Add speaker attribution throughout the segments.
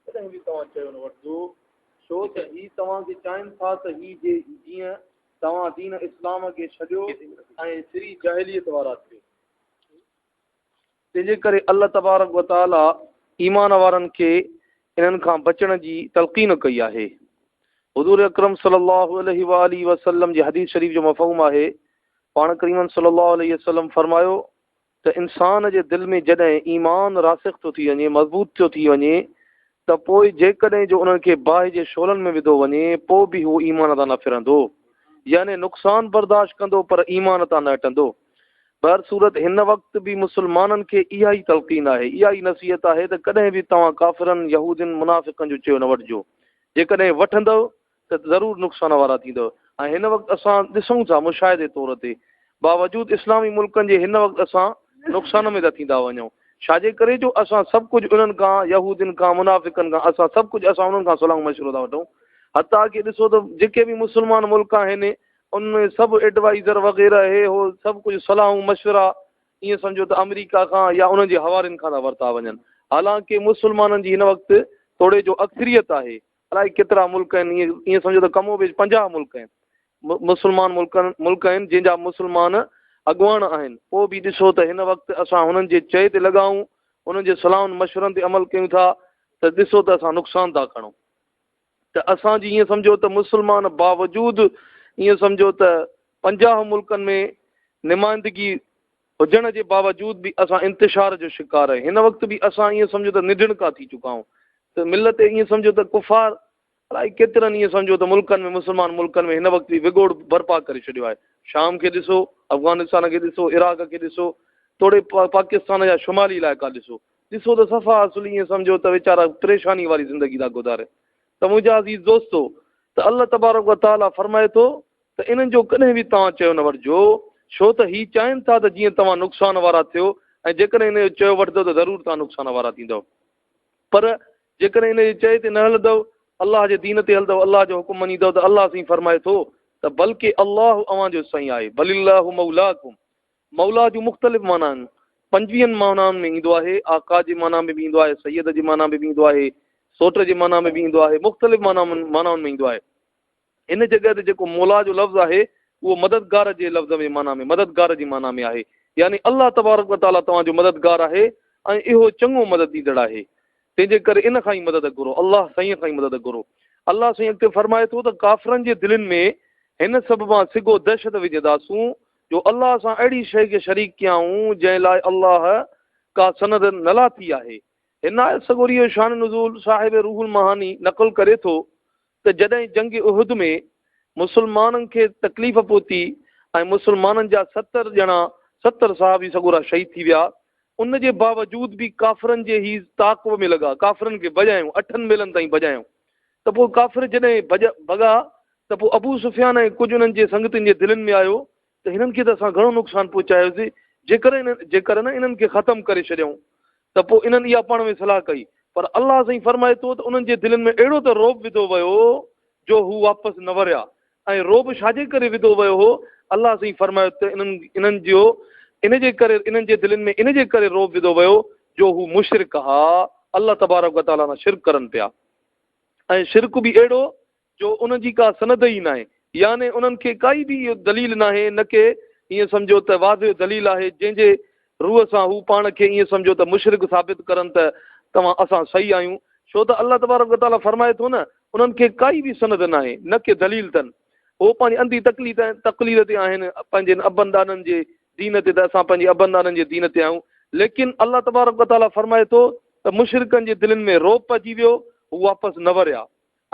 Speaker 1: ڪڏهن به توهان چيو نه وٺجو ڇو ته هي توهان کي چاهين ٿا ته هي جي جيئن توهان دين اسلام کي ڇڏيو ۽ سري جاهليت وارا ٿيو تنهنجي ڪري الله تبارڪ وتعاليٰ ايمان وارن کي انهن کان بچڻ جي تلقين ڪئي آهي حضور اڪرم صلي الله عليه وآله وسلم جي حديث شريف جو مفهوم آهي پاڻ ڪريمن صلي الله عليه وسلم فرمايو ته انسان جي دل ۾ جڏهن ايمان راسخ ٿو ٿي وڃي، مضبوط ٿيو ٿي وڃي ته پوء جيڪڏهن جو انهن کي باهه جي شعلن ۾ وڌو وڃي پوء به هو ايمان تان نه ڦرندو يعني نقصان برداشت ڪندو پر ايمان تان نه هٽندو. بهرصورت هن وقت به مسلمانن کي اها ئي تلقين آهي، اها ئي نصيحت آهي ته ڪڏهن به توهان ڪافرن، يهودين، منافقن جو چيو نه وٺجو، جيڪڏهن وٺندؤ ته ضرور نقصان وارا ٿيندؤ ۽ هن وقت اسان ڏسون ٿا مشاهدي طور تي باوجود اسلامي ملڪن جي هن وقت اسان نقصان ۾ ٿا ٿيندا وڃون ڇاجي ڪري جو اسان سڀ ڪجهه انهن کان يهودين کان منافقن کان اسان سڀ ڪجهه اسان انهن کان صلاح مشورو ٿا وٺون حتا ڪي ڏسو ته جيڪي به مسلمان ملڪ آهن ان ۾ سڀ ايڊوائزر وغيره هي هو سڀ ڪجهه صلاحون مشورا ائين سمجهو ته آمريڪا کان يا انهن جي حوالين کان ٿا ورتا وڃن حالانڪه مسلمانن جي هن وقت توڙي جو اڪثريت آهي الائي ڪيترا ملڪ آهن ائين سمجهو ته ڪم و بيش پنجاهه ملڪ آهن مسلمان ملڪ ملڪ آهن جن جا مسلمان اڳواڻ آهن پوء به ڏسو ته هن وقت اسان هنن جي چئي تي لڳا آهيون انهن جي صلاحن مشورن تي عمل ڪيون ٿا ته ڏسو ته اسان نقصان ٿا کڻون ته اسانجي ائين سمجهو ته مسلمان باوجود ائين سمجهو ته پنجاهه ملڪن ۾ نمائندگي هجڻ جي باوجود به اسان انتشار جو شڪار آهيون هن وقت به اسان ائين سمجهو ته نڍڻڪا ٿي چڪا آهيون ته ملت ائين سمجهو ته ڪفار الائي ڪيترن ائين سمجهو ته ملڪن ۾ مسلمان ملڪن ۾ هن وقت به وڳوڙ برپا ڪري ڇڏيو آهي شام کي ڏسو افغانستان کي ڏسو عراق کي ڏسو توڙي پاڪستان جا شمالي علائقا ڏسو ڏسو ته صفا اصل ائين سمجهو ته ويچارا پريشاني واري زندگي ٿا گذارين ته منهنجا عزيز دوستو ته الله تبارڪ و تعاليٰ فرمائي ٿو ته انهن جو ڪڏهن به توهان چيو نه وٺجو، ڇو ته هي چاهين ٿا ته جيئن توهان نقصان وارا ٿيو ۽ جيڪڏهن انهن جو چيو وٺندؤ ته ضرور توهان نقصان وارا ٿيندؤ. پر جيڪڏهن انهن جي چئي تي نه هلندؤ، الله جي دين تي هلندؤ، الله جو حڪم مڃيندؤ ته الله سائين فرمائي ٿو ته بلڪه الله اوهان جو سائين آهي، بل الله مولاڪم، مولا جون مختلف معنيٰ آهن، پنجويهن معنائن ۾ ايندو آهي، آقا جي معنيٰ ۾ به ايندو آهي، سيد جي معنيٰ ۾ به ايندو آهي، سوٽ جي معنيٰ ۾ به ايندو آهي، مختلف معنائن ۾ ايندو آهي. هن جڳهه تي جيڪو مولا جو لفظ آهي اهو مددگار جي لفظ ۾ معنيٰ ۾ مددگار جي معنيٰ ۾ آهي يعني الله تبارڪ و تعاليٰ توهان جو مددگار آهي ۽ اهو چڱو مدد ڏيندڙ آهي تنهن جي ڪري ان کان ئي مدد گهرو الله سائين کان ئي مدد گهرو الله سائين اڳتي فرمائي ٿو ته ڪافرن جي دلين ۾ هن سببان سگهو دهشت وجهنداسون جو الله سان اهڙي شيء کي شريڪ ڪيائون جنهن لاء الله ڪا سند نه لاٿي آهي هن آيت سڳوري جو شان نزول صاحب روح المعاني نقل ڪري ٿو ته جڏهن جنگ احد ۾ مسلمانن کي تڪليف پهتي ۽ مسلمانن جا ستر ڄڻا ستر صحابي سڳورا شهيد ٿي ويا ان جي باوجود به ڪافرن جي هي تعاقب ۾ لڳا ڪافرن کي ڀڄايون اٺن ميلن تائين ڀڄايون ته پوء ڪافر جڏهن ڀڄا ڀڳا ته پوء ابو سفيان ۽ ڪجهه انهن جي سنگتين جي دلين ۾ آيو ته هنن کي ته اسان گهڻو نقصان پهچايوسين، جيڪر ان جيڪر نه انهن کي ختم ڪري ڇڏيائون ته پوء انهن اها پاڻ ۾ صلاح ڪئي، پر الله سائين فرمائي ٿو ته انهن جي دلين ۾ اهڙو ته رعب وڌو ويو جو هو واپس نه وريا ۽ رعب ڇاجي ڪري وڌو ويو هو؟ الله سائين فرمائي ته انهن انهن جو ان جي ڪري انهن جي دلين ۾ ان جي ڪري رعب وڌو ويو جو هو مشرڪ ها الله تبارڪ وتعاليٰ سان شرڪ ڪرن پيا ۽ شرڪ به اهڙو جو ان جي ڪا سند ئي ناهي، يعني انهن کي ڪائي به اهو دليل ناهي، نه ڪي ائين سمجهو ته واضح دليل آهي، جنهن جي روء سان هو پاڻ کي ائين سمجهو ته مشرڪ ثابت ڪرن ته توهان اسان صحيح آهيون، ڇو ته الله تبارڪ و تعاليٰ فرمائي ٿو نه، انهن کي ڪائي به سند ناهي، نه ڪي دليل تن، هو پنهنجي انڌي تقليد ۽ تقليد تي آهن، پنهنجن ابن ڏاڏن جي دين تي ته اسان پنهنجي ابن ڏاڏن جي دين تي آهيون، ليڪن الله تبارڪ و تعاليٰ فرمائي ٿو ته مشرڪن جي دلين ۾ رعب پئجي ويو، هو واپس نه وريا.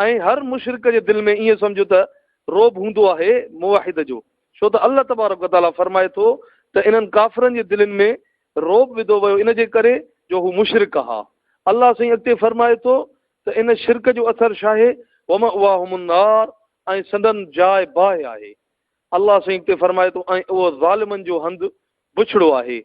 Speaker 1: ۽ هر مشرڪ جي دل ۾ ائين سمجهه ته رعب هوندو آهي موحد جو ڇو ته الله تبارڪ و تعاليٰ فرمائي ٿو ته انهن ڪافرن جي دلين ۾ رعب وڌو ويو ان جي ڪري جو هو مشرڪ ها الله سائين اڳتي فرمائي ٿو ته ان شرڪ جو اثر شاهي ومأواهم النار ۽ سندن جاء باهه آهي الله سائين اڳتي فرمائي ٿو ۽ اهو ظالمن جو هنڌ بڇڙو آهي،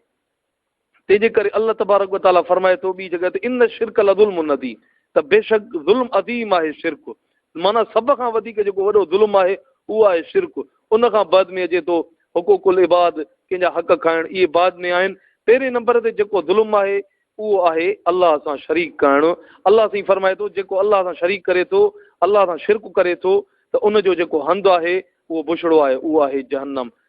Speaker 1: تنهن جي ڪري الله تبارڪ و تعاليٰ فرمائي ٿو ٻي جڳهه تي ان الشرڪ لظلم عظيم ته بيشڪ ظلم عظيم آهي شرڪ معنيٰ سڀ کان وڌيڪ جيڪو وڏو ظلم آهي اهو آهي شرڪ ان کان بعد ۾ اچي ٿو حقوق العباد ڪنهن جا حق کائڻ اهي بعد ۾ آهن پهرين نمبر تي جيڪو ظلم آهي اهو آهي الله سان شريڪ ڪرڻ الله سائين فرمائي ٿو جيڪو الله سان شريڪ ڪري ٿو الله سان شرڪ ڪري ٿو ته ان جو جيڪو هنڌ آهي اهو بڇڙو آهي اهو آهي جهنم